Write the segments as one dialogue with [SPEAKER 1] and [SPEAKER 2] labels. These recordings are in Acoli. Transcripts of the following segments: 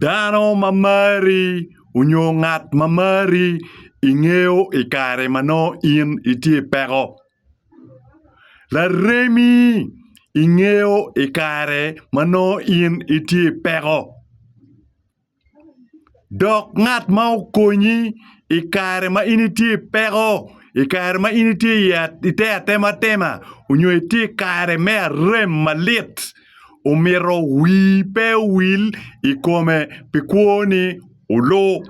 [SPEAKER 1] Dano ma mari onyo ngat ma mari ingeyo i kare ma nongo in itye i peko. Laremi ingeyo i kare ma nongo in itye i peko. Dok ngat ma okonyi i kare ma in itye i peko, i kare ma in itye i te atematema onyo itye i kare me arem malit, omito wii pe owil i kome pi kwoni olu.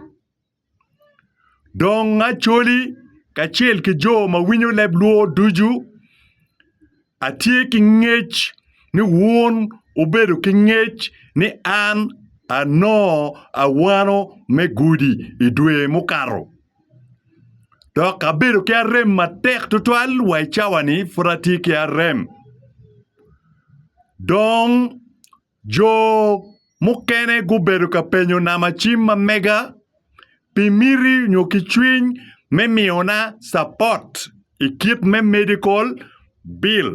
[SPEAKER 1] Dong Acholi kacel ki jo ma winyo leb Lwor ducu Atye ki ngec ni wun wubedo ki ngec ni an anongo awano me gudi i dwe mukato, dok abedo ki arem matek tutwal wa i cawa-ni pud atye ki arem. Dong Jo mukene gubedo ka penyo namacim ma mega pi miti nyo ki cwiny me miyona capot i kit me medikol bil,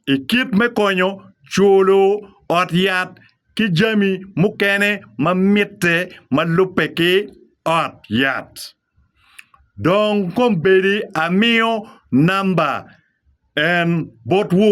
[SPEAKER 1] i kit me konyo culo ot yat ki jami mukene ma mitte ma lubbe ki ot yat. Dong kombeddi amiyo namba en botwu.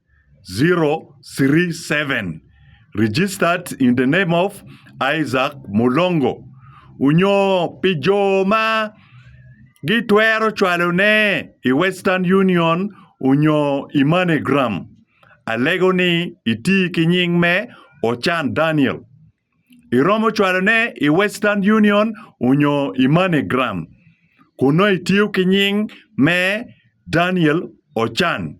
[SPEAKER 1] 037 registered in the name of Isaac Mulongo onyo pi jo ma gitwero cwalone i Western Union onyo i MoneyGram. Alego ni iti ki nying me Ochan Daniel. Iromo cwalone i Western Union onyo i MoneyGram kun nongo itiyo ki nying me Daniel Ochan.